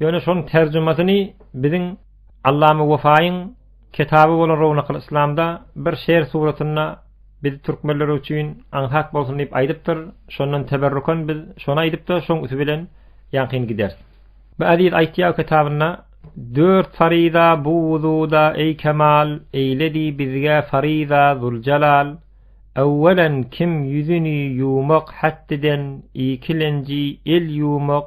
Ýöne şonuň terjimesini biziň Allama Wefaýyň ketaby bolan Rownakyl Yslamda bir şeýr suratynda biz türkmenler üçin aňsat bolsun diýip aýdypdyr, şondan teberrukan biz şony aýdyp-da şoň üsti bilen ýaňkyn gideris. Bu Eziz aýtýar kitabynda Dört faryza bu wuzuda eý kemal, eýledi bizge faryza Zuljalal. Öwwelen kim ýüzüni ýumak hätdiden ikilenji el ýumak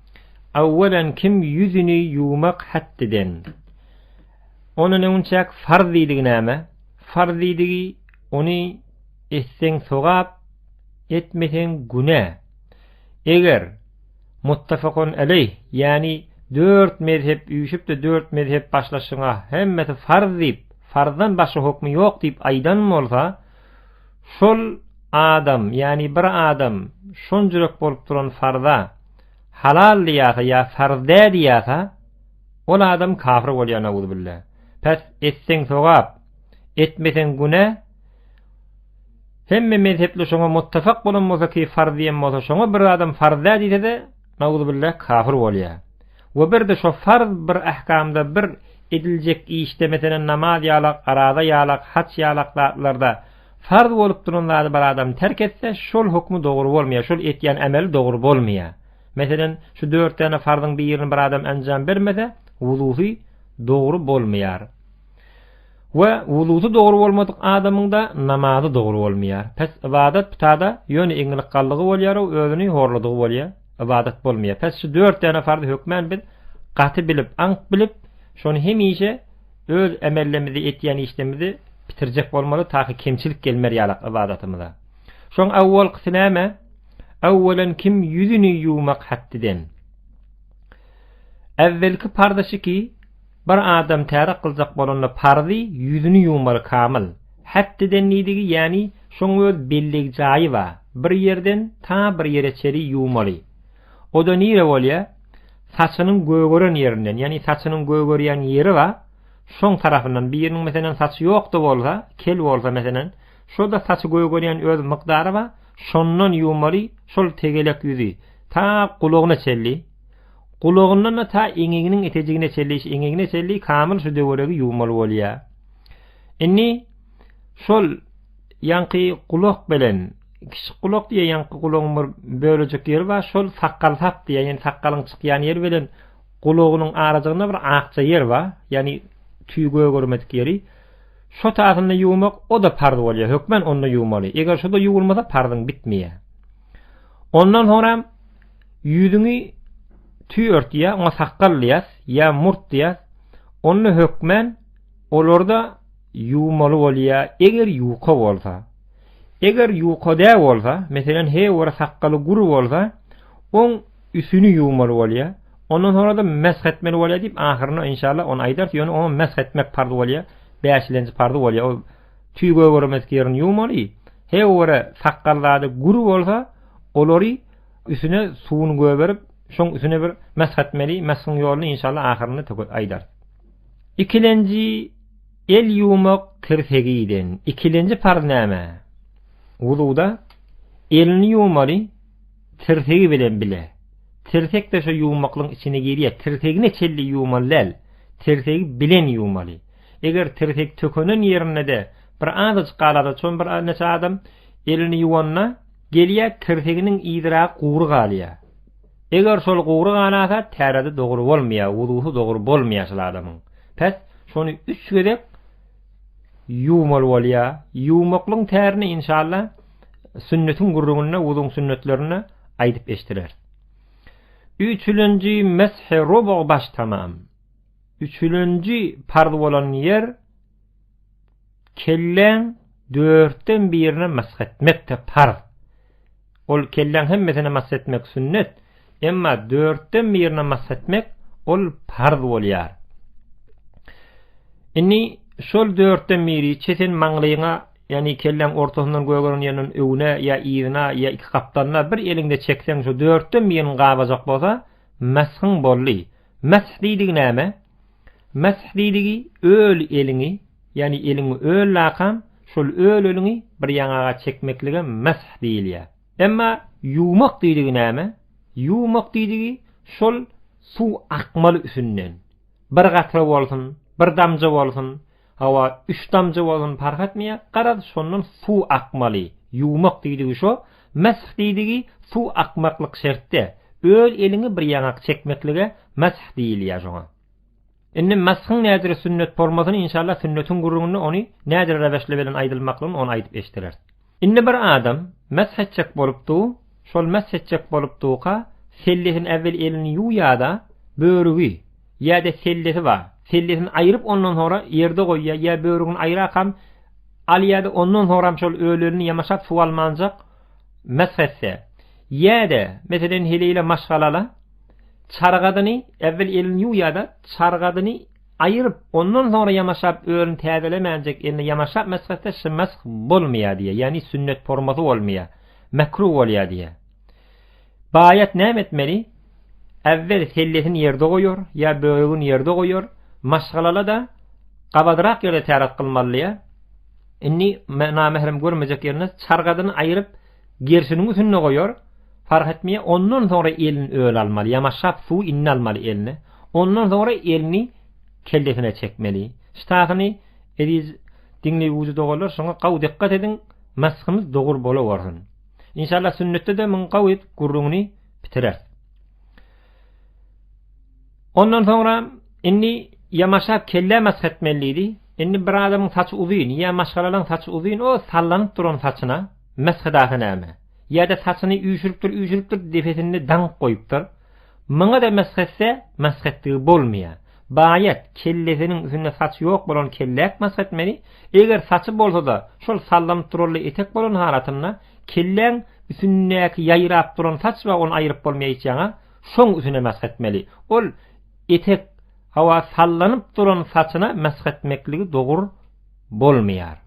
Awwalan kim ýüzüni ýuwmak haddiden. Ony näunçäk farz diýdigi näme? Farz diýdigi ony etseň sogap, etmeseň günä. Eger muttafakun aleýh, ýani dört mezhep üýşüpde dört mezhep başlaşyňa hemmesi farz diýip, farzdan başga hukmy ýok diýip aýdan bolsa, Şol adam, ýagny bir adam şonjurek bolup duran farza halal diýýärse ýa farz dä diýýärse, ol adam kafir bolýar nauzubilla. Pes, etseň sogap, etmeseň günä, hemme mezhepli şoňa muttafak bolan bolsa ki farz diýen bolsa şoňa bir adam farz dä diýse-de, Nauzubillah kafir bolýa. We bir-de şo farz bir ahkamda bir ediljek işde meselen namaz ýalak, araza ýalak, haç ýalak zatlarda farz bolup duran zady bir adam terk etse şol hukmy dogry bolmaýa, şol etýän ameli dogry bolmaýa. Meselen şu dört däne farzyň birini bir adam anjam bermese wuzusy dogry bolmaýar. We wuzusy dogry bolmadyk adamyňda namazy dogry bolmaýar. Pes ybadat butada ýöne iňňilik galdygy bolýar we özüni horladygy bolýar. Ybadat bolmaýar. Pes şu dört däne farz hökmän biz gaty bilip, aňk bilip, şony hemişe öz emellemizde etýän işlemizde bitirjek bolmaly taky kemçilik gelmer ýalak ybadatymyza. Şoň awwalkysy näme? Awwalan kim ýüzüni ýuwmak haddiden. Äwwelki parza şiki, Bir adam tärik gyljak bolanda parzy ýüzüni ýuwmaly kamyl. Hetdeden diýdigi ýäni şoň öz belleg jaýy ba, bir ýerden ta bir ýere çeli ýuwmaly. Oda nire bolýa? Saçynyň gögeren ýerinden ýani saçynyň gögerýän ýeri ba, şoň tarapyndan biriniň meselen saçy ýokda bolsa, kel bolsa meselen, şoda saçy gögerýän öz mykdary ba, şondan ýuwmaly şol tegelek ýüzi ta gulagyna çelli. Gulagyndan-da ta eňeginiň etejigine çenli iş eňegine çenli kamyl şu döweregi ýuwmaly bolýar. Indi şol ýaňky gulak bilen kiçik gulak diýýär ýaňky gulagyň bir bölejik ýeri bar şol sakgal sap diýýär ýani sakgalyň çykýan ýeri bilen gulagynyň arajygynda bir akja ýer bar ýani tüý gögermedik ýeri şo taýyny ýuwmak o da parz bolýar hökmen onda ýuwmaly eger şo da ýuwulmasa parzyň bitmeýär ondan soňra Ýüzüňi tüý ört ýa oňa sakgal diýýäs, ýa murt diýýäs. Onda hökmän olary-da ýuwmaly bolýar, eger ýuka bolsa. Eger ýuka dä bolsa, meselem, heý bir sakgaly gür bolsa, oň üsüni ýuwmaly bolýar. Ondan soňra-da mesh etmeli bolýar diýip, ahyrynda inşallah ony aýdarys, ýöne oňa mesh etmek parz bolýar, bäşilenji parzy bolýar. Ol tüý gögermedik ýerini ýuwmaly. Heý bir sakgal zady gür bolsa, olary Üsüne suwuny göberip, şoň üsüne bir mesh etmeli, meshiň ýoluny inşallah ahyrynda töket aýdar. Ikilenji el ýuwmak tirsegiden. Ikilenji parz näme? Wuzuwda elini ýuwmaly tirsegi bilen bile. Tirsek de şu ýuwmaklyň içine girýär. Tirsegine çelli ýuwmaly däl. Tirsegi bilen ýuwmaly. Eger tirsek tökenen ýerinde de bir azajyk galada, şoň bir neçe adam elini ýuwanda, Gelýär tirseginiň yzyragy gury galýar. Eger şol gury ganasa täredi dogry bolmaýar, wuzusy dogry bolmaýar şol adamyň. Pes, şony üç gezek ýuwmaly bolýar. Ýuwmaklygyň tärini inşalla sünnetiň gürrüňinde wuzuň sünnetlerinde aýdyp eşdireris. Üçülenji mesh-i rubu baş tamam. Üçülenji parz bolan ýer. kelläň dörtden birine mash etmek-de parz. Ol kelläň hemmesine mash etmek sünnet, emma dörtden birine mash etmek ol parz bolýar. Indi şol dörtden biri çesen maňlyňa, ýagny kelläň ortasyndan gögeren ýerinden öňüne ýa yzyna ýa iki gapdanyna bir eliňde çekseň şu dörtden biriniň gabajak bolsa, mashyň boldy. Mash diýdigi näme? Mesh diýligi öl eliňi, ýagny eliňi öl lakam, şol öl eliňi bir ýaňaga çekmeklige mesh diýilýär. Emma ýuwmak diýligi näme? Ýuwmak diýligi şol suw akmaly üsünden, bir gatra bolsun, bir damja bolsun, Hawa, üç damja bolsun parh etmeýär, garaz, şondan suw akmaly, ýuwmak diýdigi şo, mesh diýdigi suw akmaklyk şertde, öz eliňi bir ýaňak çekmeklige mesh diýilýär şoňa. Indi meshiň nädire sünnet bolmasyny, inşallah, sünnetiň gürrüňinde ony nädire reweşle belen aýdylmaklygyny ony aýdyp eşdereris. Indi bir adam mesh etjek bolup du, şol mesh etjek bolup duka sellesini äwwel elini ýuw ýada börügi ýäde sellesi ba, sellesini aýryp ondan sonra ýerde goýýa ýa börügini aýrakam al ýada ondan soram şol ölelini ýamaşap suw almanjak mesh etse ýäde meselen heleýle maşgalala çargadyny äwwel elini ýuw ýada çargadyny Aýyryp, ondan soňra ýamaşap özüni täzelemänjek elini ýamaşap mesh etse shymsh bolmaýar diýýär, ýagny sünnet formasy bolmaýar, mekruh bolýar diýýär. Baýat näme etmeli? Äwwel sellesini ýerde goýar, ýa böregini ýerde goýar, maşgalala-da gabadrak ýerde täret kylmalydyýýär. Indi namehrem görmejek ýerine çargadyny aýyryp, Gerşiniň üsünde goýar, fark etmeýär, ondan soňra elin öl almaly, ýamaşap suwy indi almaly eline, ondan soňra elini kellesine çekmeli. Ştasyny, eziz diňleýuji doganlar, şoňa gawy dykgat ediň, masgymyz dogur bolawersin. Inşallah sünnetde-de muň gawy gürrüňini bitireris. Ondan soňra indi ýamaşap kelle mask etmeli diýdi. Indi bir adamyň saçy uzyn, ýa maşgalalaň saçy uzyn, o sallanyp duran saçyna, Mesgydasy näme? Ýa-da saçyny üýşüripdir-üýşüripdir, depesinde daňyp goýupdyr. Muňa-da mesh etse, mesh etdigi bolmaýar. Baýat, kellesiniň üstünde saçy ýok bolan kelläk mesh etmeli, eger saçy bolsa-da, şol sallanyp duraly etek bolan halatynda, kelläň üstündäki ýaýrap duran saç bar, ony aýryp bolmaýar hiç ýaňa, şoň üstüne mesh etmeli. Ol etek, hawa, sallanyp duran saçyna mesh etmekligi dogur bolmaýar.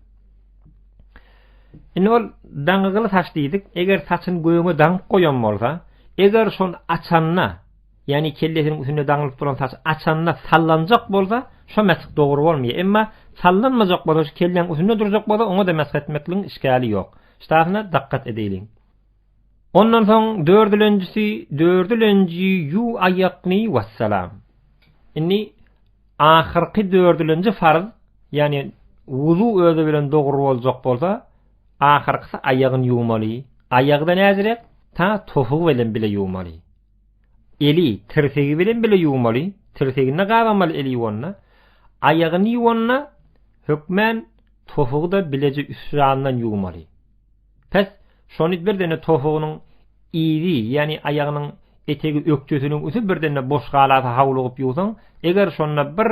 Indi ol daňygyly saç diýdik. Eger saçyny göwne daňyp goýan bolsa, eger şony açanda, ýagny kellesiniň üstünde daňylyp duran saç açanda sallanjak bolsa, şo mesh dogry bolmaýar. Emma sallanmajak bolsa, şu kelläň üstünde durjak bolsa, oňa-da mesh etmekligiň işgäli ýok. Ştasyna dakgat edeýliň. Ondan soň dördülenjisi dördülenji ýu aýakny wassalam. Indi ahyrky dördülenji farz, ýani wuzu özi bilen dogry boljak bolsa, ahyrkysy aýagyny ýuwmaly, aýagy-da näzirek, ta topugy bilen bile ýuwmaly. Eli, tirsegi bilen bile ýuwmaly, tirsegini gabamaly eli ýuwanda, aýagyny ýuwanda hökmän topugy-da bileje üstrandan ýuwmaly. Pes, şony birdende tofugynyň yzy, ýagny aýagynyň etegi ökjesiniň üsti birdende boş galasa hawlugyp ýuwsaň, eger şonda bir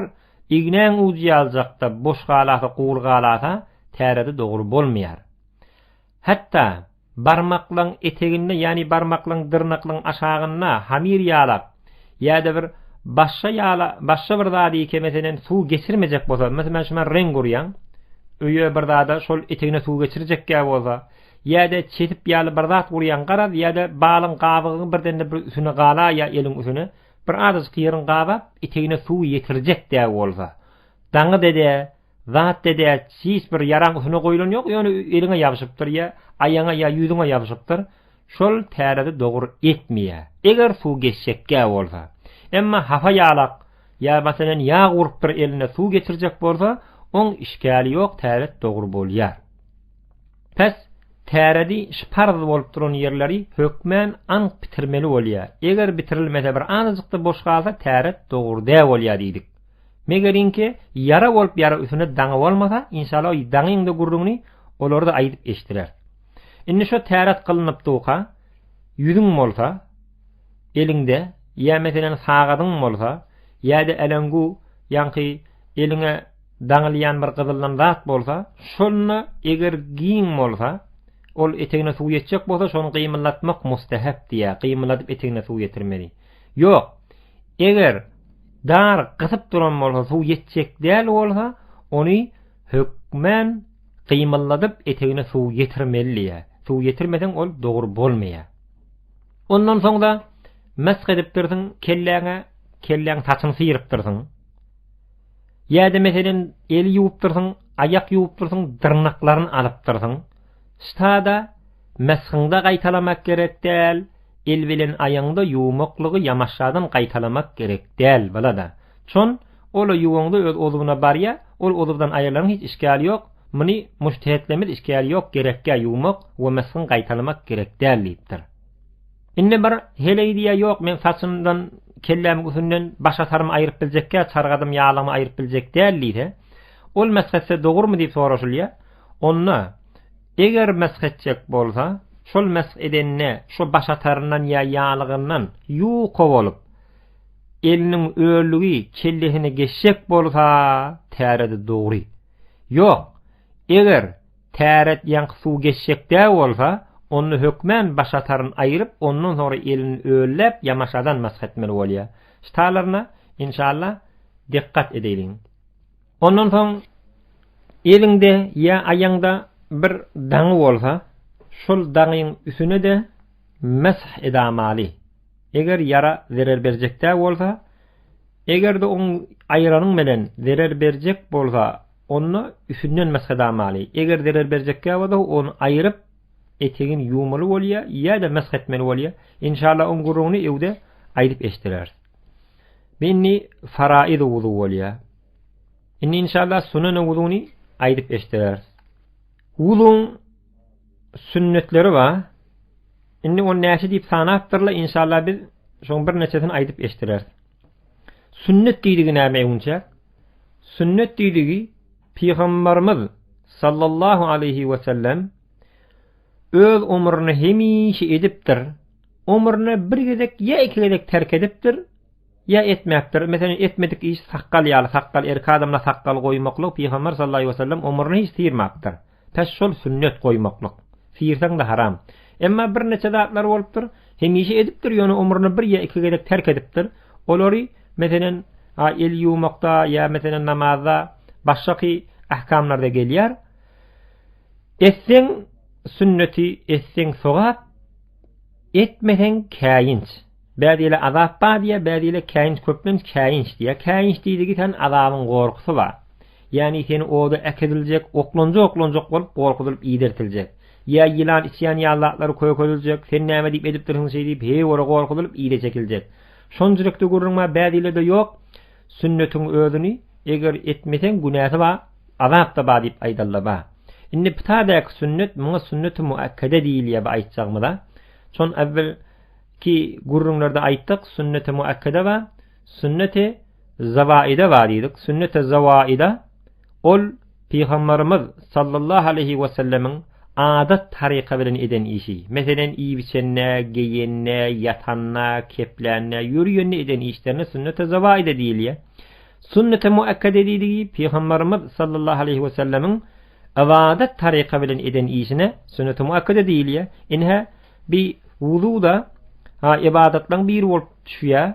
ignäň ujy ýaljakda boş galasa gury galasa, tärede dogry bolmaýar. Hatda, barmaklaň eteginde, ýagny barmaklaň dyrnaklaň aşagynda hamir ýalap, Ýa-da bir başga ýala başga bir zady ýeke meselen suw geçirmejek bolsa, meselen men şuman reň gurýan, öýe bir zada şol etegine suw geçirjek ýa bolsa, ýa-da çetip ýaly bir zat gurýan garaz ýa-da balyň gabygyň birden-de bir üsüne gala ýa eliň üsüne bir azajyk ýerin gabap etegine suw ýetirjek dä bolsa, daňy dede Zat dede hiç bir ýaraň üsüne goýlan ýok ýöne eliňe ýabyşypdyr ýa aýaňa ýa ýüzüňe ýabyşypdyr şol tärezi dogur etmeýä eger suw geçjekgä bolsa emma hapa ýalak ýa masalan ýag urupdyr eline suw geçirjek bolsa oň işgäli ýok täret dogur bolýar. Pes täredi şy parz bolup duran ýerleri hökmän anyk bitirmeli bolýa eger bitirilmese bir azajykda boş galsa täret dogur dä bolýa diýdik. Megeriňki, ýara bolup ýara üsüne daňy bolmasa, inşala o daňyň-da gürrüňini olar-da aýdyp eşdirer. Indi şo täret gylynypdyka, ýüzüň bolsa, eliňde, ýa meselen sagadyň bolsa, ýa-da äleňgu, ýaňky eliňe daňylýan bir gyzyldan zat bolsa, şonda eger giň bolsa, ol etegine suw ýetjek bolsa, şony gymyldatmak mustahap diýýär, gymylladyp etegine suw ýetirmeli. Ýok. Eger dar gysyp duran bolsa, suw ýetjek däl bolsa, ony hökmän gymylladyp etegine suw ýetirmeli diýýär. Suw ýetirmeseň ol dogry bolmaýar. Ondan soň-da mesh edipdirsiň kelläňe, kelläň saçyny syrypdyrsyň. Ýa-da meselem eli ýuwupdyrsyň, aýak ýuwupdyrsyň, dyrnaklaryny alypdyrsyň. Stada meshiňde gaýtalamak gerek däl, il bilen aýaňda ýuwmaklygy ýamaşjadan gaýtalamak gerek däl, bala-da. Çon, ol-a ýuwaňda öz uzwuna barýa, ol uzwdan aýrylaryň hiç işgäli ýok, muny muştehetlemiz işgäli ýok gerekgä ýuwmak we meshiň gaýtalamak gerek däl diýipdir. Indi bir heleý diýýä ýok men saçymdan kellämi gusünden baş atarymy aýryp biljekgä çargadymy ýalamy aýryp biljek däl diýse, ol mesh etse dogurmy diýip soraşylýa, Onda, eger mesh etjek bolsa, şol mesh edende şo başataryndan ýa ýalygyndan ýuka bolup, eliniň öllügi kellesine geçjek bolsa, täredi dogry. Ýok, eger täret ýaňky suw geçjek däl bolsa, onda hökmän başataryn aýryp, ondan soňra elini ölläp, ýamaşadan mesh etmeli bolýar. Ştalarna, inşallah, dikgat edeýliň. Ondan soň eliňde ýa aýaňda bir daňy bolsa, şol daňyň üsüne-de mesh edamaly. Eger ýara zerer berjekdä bolsa, eger-de oň aýyranyň bilen zerer berjek bolsa, onda üsünden mesh edamaly. Eger zerer berjekdä bolsa, ony aýyryp, etegini ýuwmaly bolýa ýa-da mesh etmeli bolýa. Inşallah oň gürrüňini öwde aýdyp eşdereris. Bindi faraiz wuzu bolýar. Indi inşallah sunan wuzuny aýdyp eşdereris. Wuzuň sünnetleri bar. Indi ony näçe diýip sanapdyrlar, inşallah biz şoň bir neçesini aýdyp eşdereris. Sünnet diýdigi näme eýunça? Sünnet diýdigi Pygamberimiz sallallahu aleyhi ve sellem Öz omruna hemişe edipdir. Omruna bir gezek ýa iki gezek terk edipdir, ýa etmäpdir. Meselem, etmedik iş sakgal ýaly, sakgal erki adamla sakgal goýmaklyk Pygamber sallallahu aleyhi ve sellem omruna hiç syýrmapdyr. Pes şol sünnet goýmaklyk. Syýrsaňda haram. Emma bir neçe zatlar bolupdyr, hemişe edipdir, ýöne omruna bir ýa iki gezek terk edipdir. Olary, meselem, a el ýuwmakda ýa meselem namazda, başgaky ahkamlarda gelýär. Etseň, sünneti, etseň, sogap, etmeseň, käýinç. Bäzi ýerler azap bar diýýär, bäzi ýerler käýinç, köplenç käýinç diýýär. Käýinç diýdigi sen azabyň gorkusy bar. Ýagny seni oda äkidiljek, oklanja-oklanja bolup gorkuzylyp idertiljek. Ýa ýylan içýän ýaly zatlary kökediljek, sen näme diýip edipdirsiň şeýdip, heý ora gorkuzylyp ide çekiljek. Şonçilikde gürrüň bar, bäzi ýerlerde ýok. Sünnetiň özüni eger etmeseň günäsi bar, azap-da bar diýip aýdalla bar. Indi pitaädäki sünnet muňa sünneti muakkede diýilýär bu aýtjagymyza. Şon äwwel ki gürrüňlerde aýtdyk, sünneti muakkede bar, sünneti zawaide bar diýdik. Sünneti zawaida Ol Pygambarymyz sallallahu aleýhi wesellemiň adat taryka bilen eden işi, meselem iýip-içende, geýende, ýatanda, keplände, ýörýände eden işlerine sünneti zawaida diýilýär. Sünneti muakkade diýdigi Pygambarymyz sallallahu aleýhi wesellemiň ybadat taryka bilen eden işine sünneti muakkade diýilýär. Inha bi wuzu-da ha ybadatlaryň biri bolup düşýär.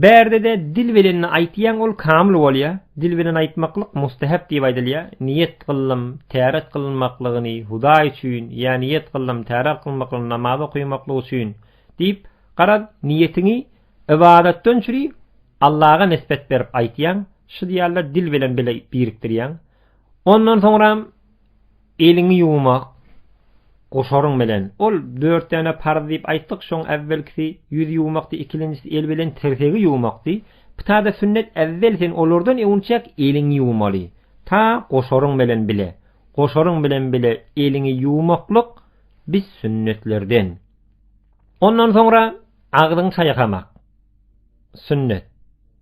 Bärdede dil bilenni aýtýaň ol kamyl bolýa, dil bilen aýtmaklyk mustahap diýip aýdylýa, niýet gyllym täret gylynmaklygyny Hudaý üçin ýa niýet gyllym täret gylmaklygyny namaz okymaklyk üçin diýip, garaz, niýetiňi ybadatdan çüri Allaga nisbet berip aýtýaň, şy diýarlar dil bilen bile birikdirýäň. Ondan soňram. Eliňi ýuwmak guşaryň bilen. Ol dört däne parz diýip aýtdyk, şoň äwwelkisi ýüz ýuwmakdy, ikilinjisi el bilen tirsegi ýuwmakdy. Pytada sünnet äwwel sen olardan öwünçäk eliňi ýuwmaly. Ta guşaryň bilen bile. Guşaryň bilen bile eliňi ýuwmaklyk biz sünnetlerden. Ondan soňra agzyňy çaýkamak sünnet.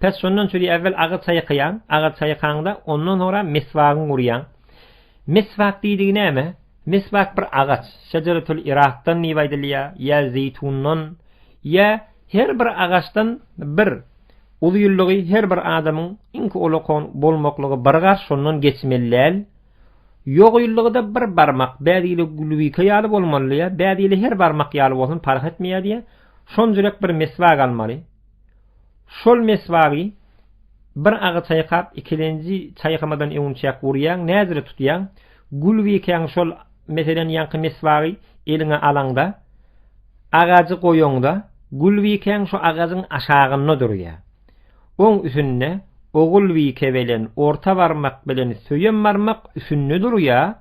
Pes şondan çüri äwwel agyz çaýkaýaň, agyz çaýkaňda ondan soňra meswagyňy urýaň. Meswak diýdigi näme? Meswak bir agaç, şejeretül irakdan diýip aýdylýar, ýa zeýtundan, ýa her bir agaçdan bir uzynlygy her bir adamyň iňki olakon bolmaklygy bir garş şondan geçmeli däl. Ýogynlygy-da bir barmak, bäzi ýyly gülwika ýaly bolmaly ýa bäzi ýyly her barmak ýaly bolsun parh etmeýär diýýär. Şonjurek bir meswak almaly. Şol meswagy bir agy çaýkap, ikilenji çaýkamadan öňünçäk urýaň, näzire tutýaň. Gulwikäň şol, meselem, ýaňky meswagy eliňe alaňda, agajy goýaňda, gulwikäň şu agajyň aşagynda durýar. Oň üsünde ogulwike bilen orta barmak bilen söýem barmak üsünde durýar.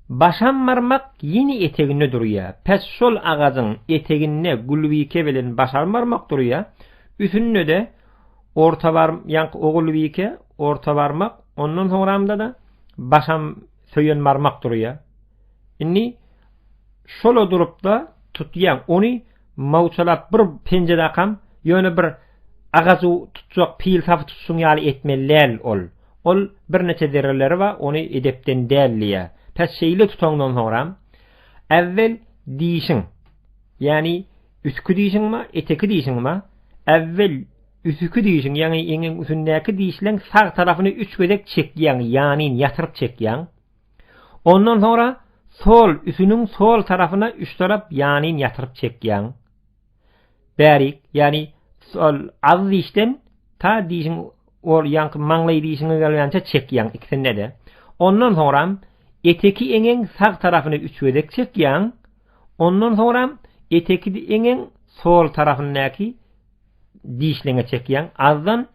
Başarmarmak ýene eteginde durýar. Päs şol agajyň eteginde Gulbike bilen başarmarmak durýar. Üsünde-de ortabar ýaňky Ogulbike, ortabarmak, ondan soňramda-da başam Söýenmarmak durýar. Indi şol-a durup-da tutýar. Ony Mawçalap bir penjedäkam ýöne bir agajy tutjak pil sapy tutuşyň ýaly etmeli däl ol. Ol birneçe zerreleri bar, ony edepden däl diýýär. Pes şeýle tutaňdan soňram, äwwel dişiň, ýagny üstki dişiňmi, eteki dişiňmi, äwwel üstki dişiň, ýagny eňiň üstündäki dişleň sag tarapyny üç gezek çekýäň, ýanyn ýatyryp çekýäň. Ondan soňra sol üsüniň sol tarapyna üç tarap ýanyn ýatyryp çekýäň. Bärik, ýagny sol az dişden ta dişiň ol ýanky maňlaý dişiňe gelýänçä çekýäň ikisinde-de. Ondan soňram eteki eňeň sag tarapyny üç gezek çekýäň. Ondan soňram eteki eňeň sol tarapyndaky dişleňe çekýäň. Azdan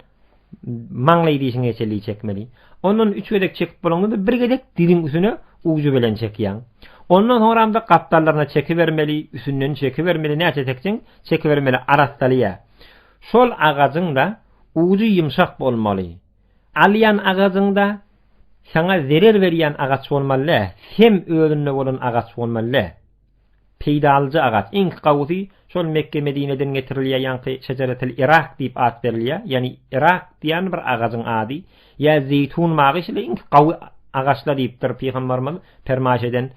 maňlaý dişiňe çeli çekmeli. Ondan üç gezek çekip bolanda bir gezek diziň üstüne ujy bilen çekýäň. Ondan soňramda gapdallaryna çeki bermeli, üstünden çeki bermeli, näçe çekseň çeki bermeli arassalýa. Şol agajyňda ujy ýumşak bolmaly. Alýan agajyňda saňa zerer berýän agaç bolmaly dä, sem özünde bolan agaç bolmaly dä. Peýdalyja agaç, iňki gawusy şol Mekge-Medineden getirilýär, ýaňky şejeretil Irak diýip at berilýär, ýagny Irak diýýän bir agajyň ady, ýa zeýtun magy şeýle iňki gawy agaçlar diýipdir pygambarymyz permaýş eden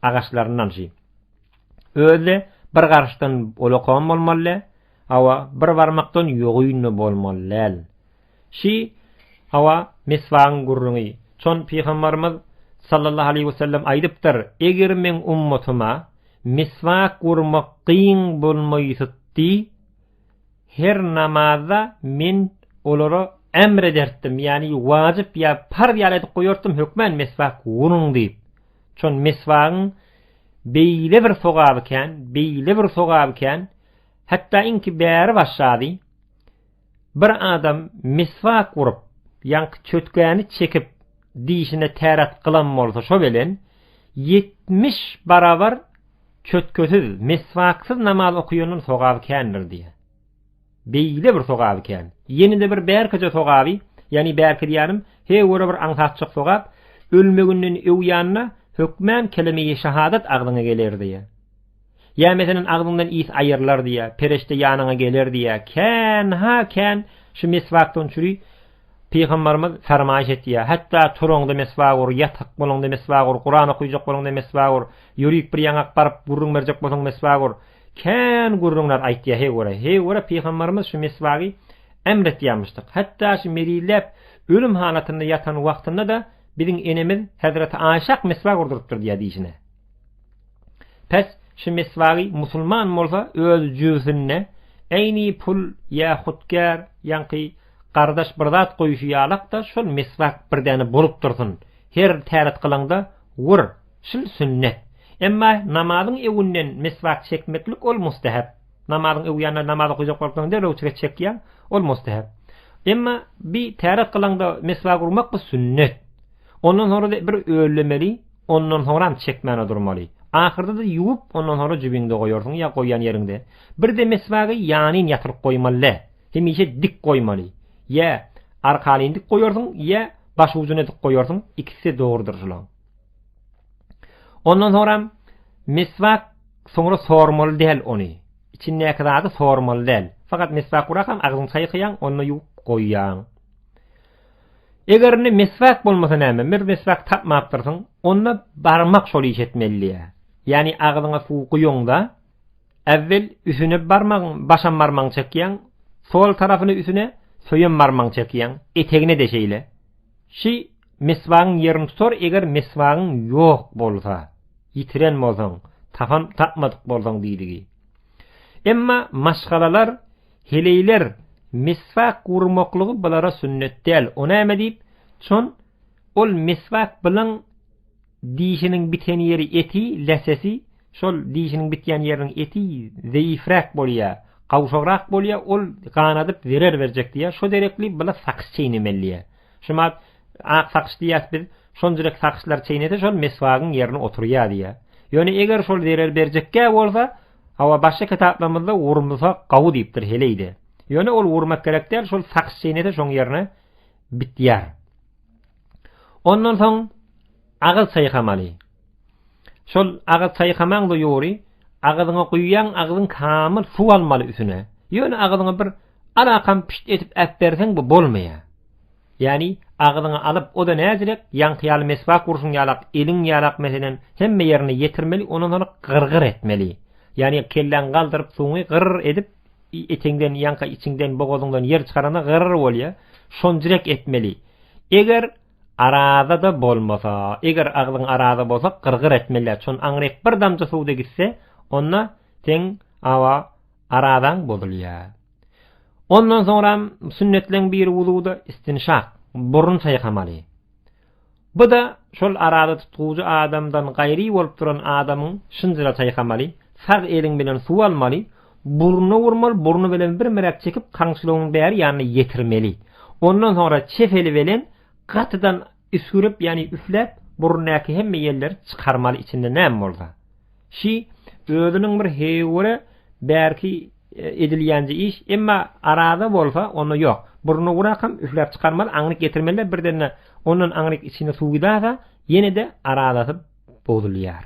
agaçlaryndan şi. Özi-de bir garşdan bolakam bolmaly däl, hawa, bir barmakdan ýogyn-da bolmaly däl. Şi, hawa, meswagyň gürrüňi. Çon pygambarymyz, sallallahu aleýhi we sellem, aýdypdyr, Eger meň ummatyma meswak urmak kyn bolmaýsytdy, her namazda men olara emr edertdim, ýagny wajyp ýa parz ýaly edip goýartdym, hökmän meswak uruň diýip. Çon meswagyň beýle bir sogaby kän, beýle bir sogaby kän, hatda iňki bäri başgady. Bir adam miswak urup, ýaňky çötgäni çekip, dişine täret gylan bolsa şo belen, ýetmiş barabar çötkesiz, miswaksyz namaz okaýandan sogaby kändir diýýär. Beýle bir sogaby kän. Ýene-de bir bärkije sogaby, ýagny bärki diýýänim, he görä bir aňsatjak sogap, ölmeginden öw ýanyna hökmän kelime-i şahadat agzyňa geler diýýär. Ýa meselem agzyňdan ys aýrylar diýýä, pereşde ýanyňa geler diýýä. Kän, ha kän şu meswakdan çüri Pygambarymyz fermaýyş etýär. Hatda turaňda meswak ur, ýatyk bolaňda meswak ur, Kuran okaýjak bolaňda meswak ur, ýörüp bir ýaňak baryp gürrüň berjek bolsaň meswak ur. Kän gürrüňler aýtýar heý görä. Heý görä Pygambarymyz şu meswagy emr etýärmişdik. Hatda şu melilläp ölüm halatynda ýatan wagtynda-da biziň enemiz Hezreti Aýşak meswak urdurypdyr diýýär diýşine. Pes şu meswagy musulman bolsa öz jübüsinde eýni pul ýa hutkär ýaňky gardaş bir zat goýuşy ýalakda şol meswak bir däne bolup dursun her täret kylaňda wur şul sünnet emma namazyň öwünden meswak çekmeklik ol mustahap namazyň öwi ýa namaz okaýjak bolsaň derrew çek çekýäň ol mustahap emma bir täret kylaňda meswak urmak bu sünnet Ondan sonra-da bir öllemeli, ondan soňram çekmäne durmaly. Ahyrda-da ýuwup, ondan sonra jübiňde goýarsyň ýa goýan ýeriňde. Bir-de meswagy ýanyn ýatyryp goýmaly-dä. Hemişe dik goýmaly. Ýa arkalyn dik goýarsyň, ýa başujuny dik goýarsyň, ikisi-de dogrudyr şulaň. Ondan soňram meswak soňra sormaly däl ony. Içindäki zady sormaly däl. Fakat meswak gurakam agzyňy çaýkaýaň, onda ýuwup goýýaň. Eger indi meswak bolmasa näme, bir meswak tapmapdyrsyň, onda barmak şol iş etmeli diýýä. Ýagny agzyňa suw guýuňda, äwwel üsüne barmagyň, başam barmagyň çekýäň, sol tarapyny üsüne, söýem barmagyň çekýäň, etegine-de şeýle. Şi meswagyň ýerini tutar, eger meswagyň ýok bolsa, ýitiren bolsaň, tapan tapmadyk bolsaň diýdigi. Emma maşgalalar Heleýler, Miswak urmaklygy bulara sünnet däl, o näme diýip, çon, ol miswak bilen dişiniň biten ýeri eti, läsesi, şol dişiniň bitýän ýeriniň eti zeýifräk bolýa, gawşagrak bolýa, ol ganadyp zerer berjek diýýä, şo derekli bile sakyş çeýnemeli diýýä. Şuma ak sakyş diýýäs biz, şonjrek sakyşlar çeýnese şol miswagyň ýerine oturýa diýýä. Ýöne eger şol zerer berjekkä bolsa, Hawa, başga kitaplarymyzda wurmlsa gawy diýipdir heleýde. Ýöne ol wurmak gerek däl, şol sakys çeýnese şoň ýerine bitýär. Ondan soň agyz çaýkamaly. Şol agyz çaýkamaňda ýory agyzyňa guýýaň, agyzyň kamyl suw almaly üsüne. Ýöne agyzyňa bir alakam pişt edip äp berseň bu bolmaýar. Ýagny, agzyňa alyp, o-da näzirek, ýaňky ýaly meswak urşuň ýalak, eliň ýalak meselem, hemme ýerine ýetirmeli, ondan soň gyr-gyr etmeli. Ýagny, kelläňi galdyryp, suňy gyr edip, eteňden, ýaňka içiňden, bogazyňdan ýer çykaranda gyr bolýar, şonjrek etmeli. Eger araza-da bolmasa, eger agzyň araza bolsa, gyr-gyr etmeli-ä, çon aňryk bir damja suw-da gitse, onda seň, awa, arazaň bozulýar. Ondan soňram sünnetleň biri wuzuda istinşak, burun saýkamaly. Bu-da şol arada tutgujy adamdan gaýry bolup duran adamyň şynjyra saýkamaly, sag eliň bilen suw almaly, burnuna urmaly, burny bilen birmräk çekip kamçylygyň bäri ýanyna ýetirmeli. Ondan soňra çep eli bilen gatydan Üsgürip ýany üfläp burundaky hemme ýelleri çykarmaly içinde näme bolsa. Şi özüniň bir heýwere bärki edilýänje iş emma araza bolsa onda ýok. Burny gurakam üfläp çykarmaly aňryk getirmelide birdende ondan aňryk içine suw gidasa ýenede arazasy bozulýar.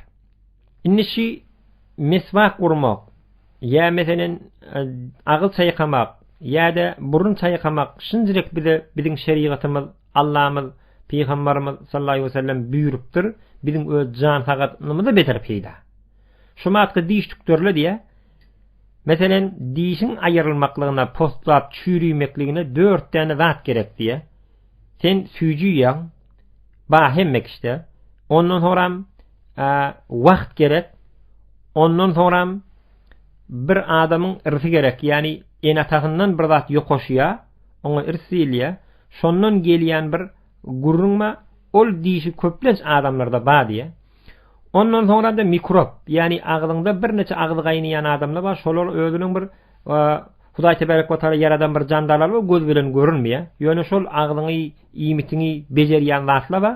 Indi şi meswak urmak ýa meselen agyz çaýkamak ýada burun çaýkamak şinjirik bize biziň şerigatymyz Allamyz, Pygambarymyz sallallahu aleýhi we sellem buýrupdyr, Biziň öz jan sagatynymyza beter peýda. Şu matkda diş tükdürle diýýär. Meselen, dişiň aýyrylmaklygyna, poslap çüýremekligine dört däne zat gerek diýýär. Sen süýji iýýäň, ba hemme kişide. Ondan soňram wagt gerek. Ondan soňram bir adamyň ýerisi gerek, ýagny ene-atasyndan bir zat ýokaşýar. Oňa irs diýilýär. Şondan gelýän bir gürrüň bar. Ol dişi köplenç adamlarda bar diýýär. Ondan soňra-da mikrop, ýagny agzyňda birnäçe agzy gaýnaýan adamlar bar. Şolar özüniň bir Hudaý tebarek we taala ýaradan bir jandarlary bar, göz bilen görünmeýär. Ýöne şol agzyňy, iýmitiňi bejerýän zatlar bar.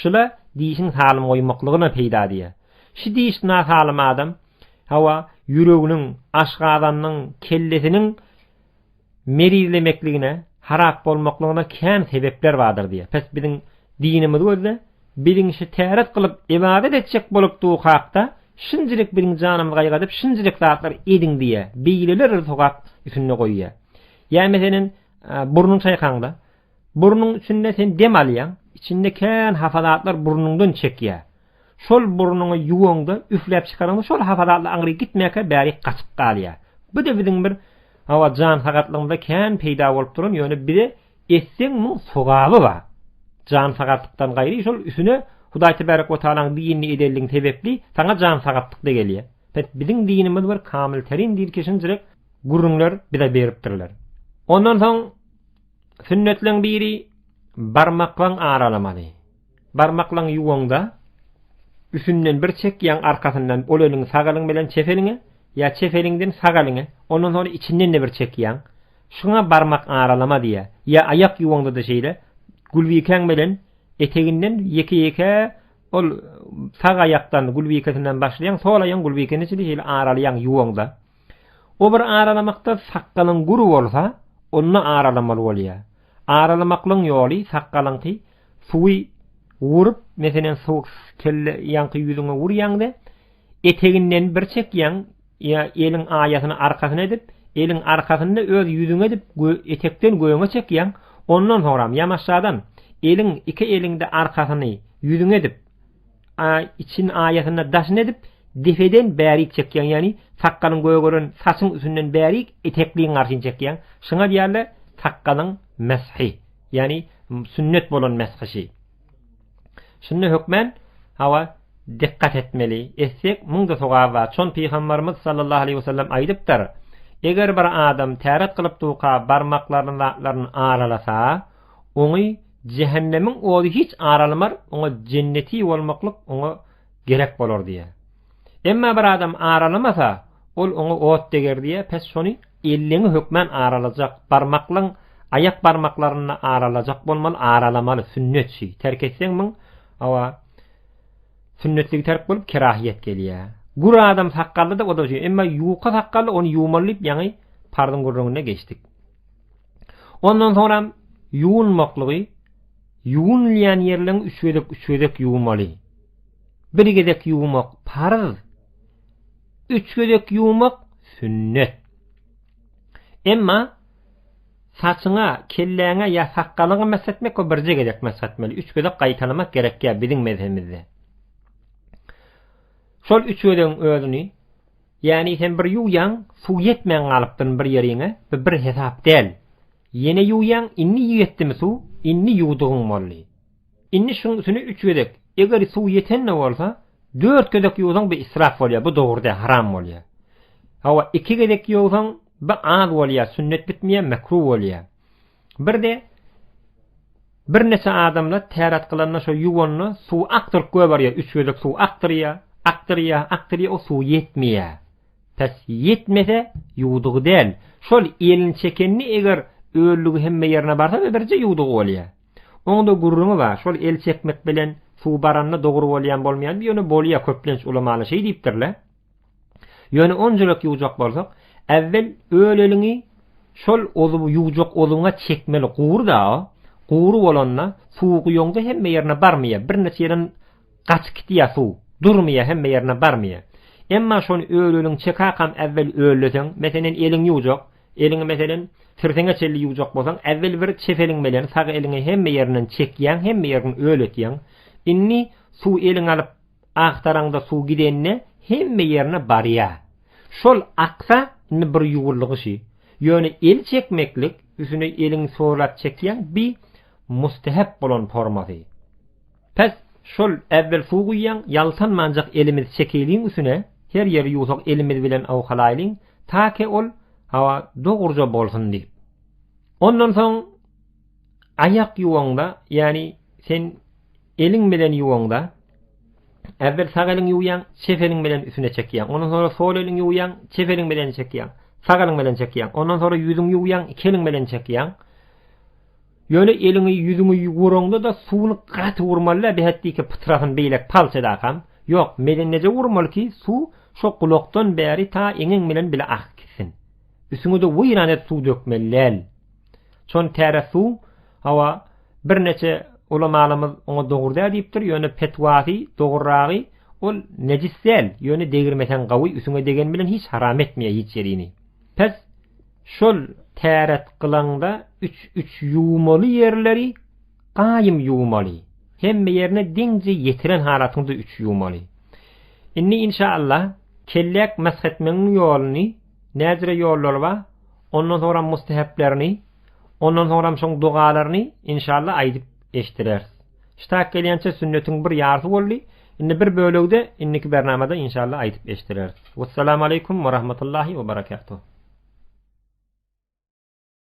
Şula dişiň salym goýmaklygyna peýda diýýär. Şu diş nasalym adam, hawa, ýüreginiň, aşgazanynyň, kellesiniň merizlemekligine, harap bolmaklygyna kän sebepler bardyr diýýär. Pes biziň dinimiz gözde biziň şu täret kylyp ybadat etjek bolupdygy hakda şinjilik biziň janymyzy gaýgadyp şinjilik zatlar ediň diýýär. Beýleler sogap üsünde goýýar. Ýa meselen burnuň çaýkaňda, Burnuň içinde sen dem alýaň, içinde kän hafa zatlar burnuňdan çekýär. Şol burnuňy ýuwaňda, üfläp çykaraňda şol hafa zatlar aňry gitmäkä bärik gaçyp galýar. Bu-da biziň bir hawa jan sagatlygymyzda kän peýda bolup duran, ýöne bize etseň muň sogaby bar. Jan sagatlykdan gaýry şol üsüne Hudaý tebarek we taalaň dinini edenligiň sebäpli saňa jan sagatlyk-da gelýär. Bet biziň dinimiz bir kamyl terin dil kişinjirek gürrüňler bize beripdirler. Ondan soň Sünnetleň biri barmaklaň aralamaly. Barmaklaň ýuwaňda üsünden bir çek ýaň arkasyndan ol eliň sag eliň bilen çep eliňe ýa çep eliňden sag eliňe ondan soň içinden de bir çek ýaň. Şuňa barmak aralama diýýär. Ýa aýak ýuwaňda da şeýle gulbikäň bilen eteginden ýeke-ýeke ol sag aýakdan gulbikesinden başlaýaň sol aýagyň gulbikesini şeýle aralaýaň ýuwaňda. O bir aralamakda sakgalyň gury bolsa, onda aralamaly bolýar. Aralamaklygyň ýoly sakgalyňky suwy urup, meselem, suwuk kelle ýaňky ýüzüňe urýaňda, eteginden bir çekýäň, ýa eliň aýasyny arkasyna edip, eliň arkasyny öz ýüzüňe edip, etekden göňe çekýäň, ondan soňram ýamaşjadan eliň iki eliňde arkasyny ýüzüňe edip, için ayasynda daşyn edip, depeden bärik çekýäň, ýagny sakgalyň gögeren saçyň üstünden bärik etekliň garşyny çekýäň. Şuňa diýerler sakgalyň meshi, ýagny sünnet bolan meshişi. Şunda hökmän hawa dikkat etmeli. Etsek, muňda sogap bar. Çon pygamberimiz sallallahu aleyhi ve sellem aýdypdyr. Eger bir adam täret kılıp duka barmaklaryny zatlaryny aralasa, Oňy jähennemiň ody hiç aralamar, oňa jenneti bolmaklyk oňa gerek bolar diýýär. Emma bir adam aralamasa, ol oňa ot deger diýýär, pes şony elliňi hökmän aralajak, barmaklyň aýak barmaklaryny aralajak bolmaly, aralamaly, sünnet şi, terk etseň muň, hawa, sünnetligi terk bolup kerahyýet gelýär. Gür adam sakgally-da o-da şi, emma ýuka sakgally ony ýuwmaly diýip ýaňy parzyň gürrüňine geçdik. Ondan soňra ýuwunmaklygy ýuwunylýan ýerleň üç gezek üç gezek ýuwmaly. Bir gezek ýuwmak parz. Üç gezek ýuwmak sünnet. Emma saçyňa, kelläňe ýa sakgalyňa mesh etmek we birje gezek mesh etmeli. Üç gezek gaýtalamak gerek ýa biziň mezhemizde. Şol üç gezegiň özüni Ýäni sen bir ýuwýaň suw ýetmän galypdyryn bir ýeriňe bu bir hesap däl. Ýene ýuwýaň indi ýetdimi suw indi ýuwdugyň boldy. Indi şuň üsüne üç gezek eger suw ýetende bolsa dört gezek ýuwsaň bu israf bolýar bu dogry däl haram bolýar. Hawa iki gezek ýuwsaň bu az bolýar sünnet bitmeýär mekruh bolýar. Birde birneçe adamlar täret kylanda şo ýuwanda suw akdyryp göberýär, üç gezek suw akdyrýar, akdyrýar, akdyrýar, o suw ýetmeýär. Pes ýetmese ýuwdugy däl. Şol elini çekende eger öllügi hemme ýerine barsa we birje ýuwdugy bolýar. Oňda gürrüňi bar, şol el çekmek bilen suw baranda dogry bolýan bolmaýan, ýöne bolýar köplenç ulamalar şeý diýipdirler. Ýöne on jürek ýuwjak bolsak, äwwel öleliňi şol ozuby ýuwjak ozubyňa çekmeli guwur-da, guwur bolanda suwy guýaňda hemme ýerine barmaýar, birnäçe ýerden gaçyp gitýär suw, durmaýar hemme ýerine barmaýar. Emma şony öleliňi çekäkam äwwel ölleseň, meselen eliňi ýuwjak, eliňi meselen tirseňe çenli ýuwjak bolsaň, äwwel bir çep eliň bilen sag eliňi hemme ýerinden çekýäň, hemme ýerini öletýäň. Indi suwy eliňe alyp, Agtaraňda suw gidende hemme ýerine barýa. Şol aksa indi bir ýuwulgyşy. Ýöne el çekmeklik üsüne eliň sorap çekýäň bi mustehep bolan formasy. Pes şol äwwel suw guýýaň ýaltanmanjak elimiz çekeliň üsüne her ýeri ýuwsak elimiz bilen owkalaýlyň take ol hawa dogurja bolsun diýip. Ondan soň Aýak ýuwaňda, ýagny sen eliň bilen ýuwaňda, äwwel sag eliň ýuwýaň, çep eliň bilen üstüne çekýäň. Ondan soňra sol eliň ýuwýaň, çep eliň bilen çekýäň. Sag eliň bilen çekýäň. Ondan soňra ýüzüň ýuwýaň, iki eliň bilen çekýäň. Ýöne eliňi, ýüzüňi ýuwraňda-da suwuny gaty wurmaly-da, bähetdiki pytrasyny beýlek palçadakam. Ýok, medenneje wurmaly ki, suw şo gulakdan bäri ta eňiň bilen bile akyp gitsin. Üstüňe-de weýran edip suw dökmeli däl. Çon täre suw, hawa, birneçe ulamalymyz oňa dogry däl diýipdir, ýöne petwasy, dogryragy, ol nejis däl, ýöne degirmeseň gawy, üsüňe degen bilen hiç haram etmeýär hiç ýerini. Pes, şol täret gylaňda üç üç ýuwmaly ýerleri gaýym ýuwmaly. Hemme ýerine deňje ýetiren halatyňda üç ýuwmaly. Indi inşaallah kelläk mesh etmegiň ýoluny Näzire ýollary bar, ondan soňram musteheplerini, ondan soňram şoň dogalaryny inşallah aýdyp eşdireris. Ştak gelýänçe sünnetiň bir ýarysy boldy, indi bir bölegi-de indiki bernamada inşallah aýdyp eşdireris. Wessalamaleýkum we rahmatullahi we barakatuh.